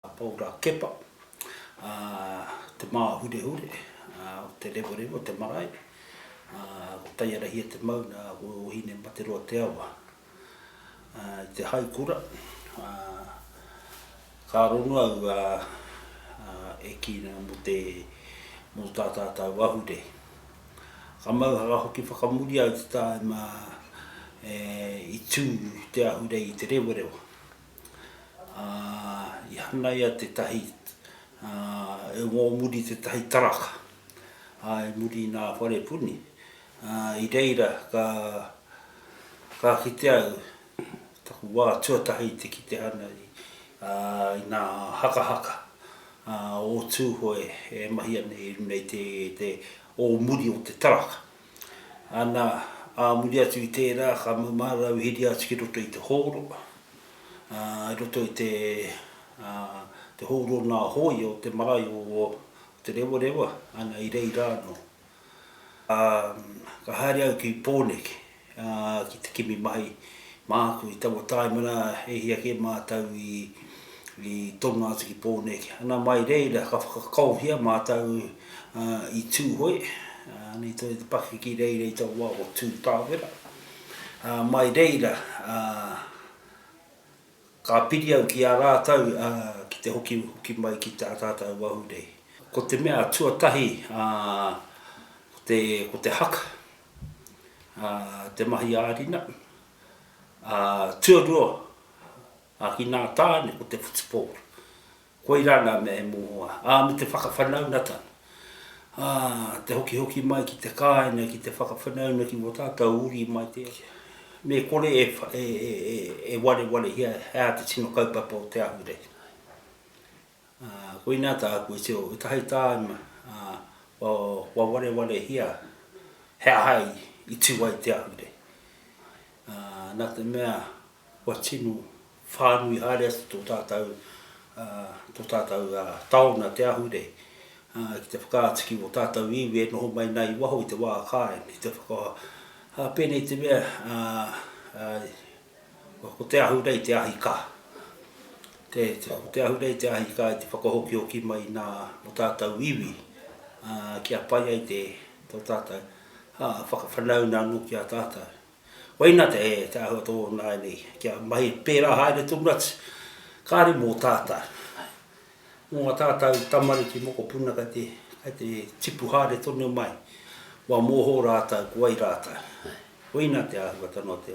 a Paura Kepa, a Te Māhurehure, a ko Te Rewarewa te marae, a ko Taiarahia te maunga, a ko Ōhinemataroa te awa. I te haikura, a ka rongo au e kī nei mō te mō tā tātau ahurei. Ka mauhara hoki whakamuri au te tāima e i tū te ahurei i Te Rewarewa. Ā, i hanaia tētahi, ā, e ngō muri tētahi taraka, ā, i muri i nā whare puni, ā, i reira ka, ka kite au taku wā tuatahi te kite ana i, ā, i nā hakahaka, ā, o Tūhoe e mahi ana i runei te, te ō muri o te taraka. Ana, ā muri atu i tērā, ka mau mā rāua i hīria atu ki roto i te hōro, ā, i roto i te, ā, te hōro o nā hōia o te marae o Te Rewarewa, ana, i reira anō. Ā, ka haere au ki Pōneke, ā, ki te kimi mahi. Māku i taua tāimana e hia kē mātou i tono atu ki Pōneke. Nā, mai reira ka whakakaohia mātou i Tūhoe, nei tonu te pakeke reira i taua wā o Tū Tāwera. Mai reira ka piri au ki a rātou ki te hokihoki mai ki tā tātou ahurei. Ko te mea tuatahi ko te haka, te mahi ā-rina, ā, tuarua, ā, ki nā tāne ko te football. Koirā nā mea e mohoa, ā, me te whakawhanaungatanga, ā, te hokihoki mai ki te kāinga ki te whakawhanaunga ki wō tātou uri mai te, me kore e, e, e, e, e warewarehia he aha te tino kaupapa o te ahurei. Koinā tāku i tio i tahi tāima kua warewarehia he aha i tū ai te ahure. Nā te mea kua tino whānui haere atu tō tātou, tō tātou taona te ahure ki te whakaatu ki ō tātou iwi e noho mai ana i waho i te wā kāinga, ki te whaka, pēnei te mea, Ko te ahurei te ahi ka. Ko te ahurei te ahi ka i te whakahokihoki mai nā o tātou iwi kia pai ai te tō tātou whakawhanauna anō ki a tātou. Koina te āhua tō nāianei kia mahi pērā haere tonu atu kāre mō tātou. Mō ngā tātau tamariki mokopuna kei te, kei te tipu haere tonu mai, kua mōhō rātau ko wai rātau. Koina te āhuatanga o te.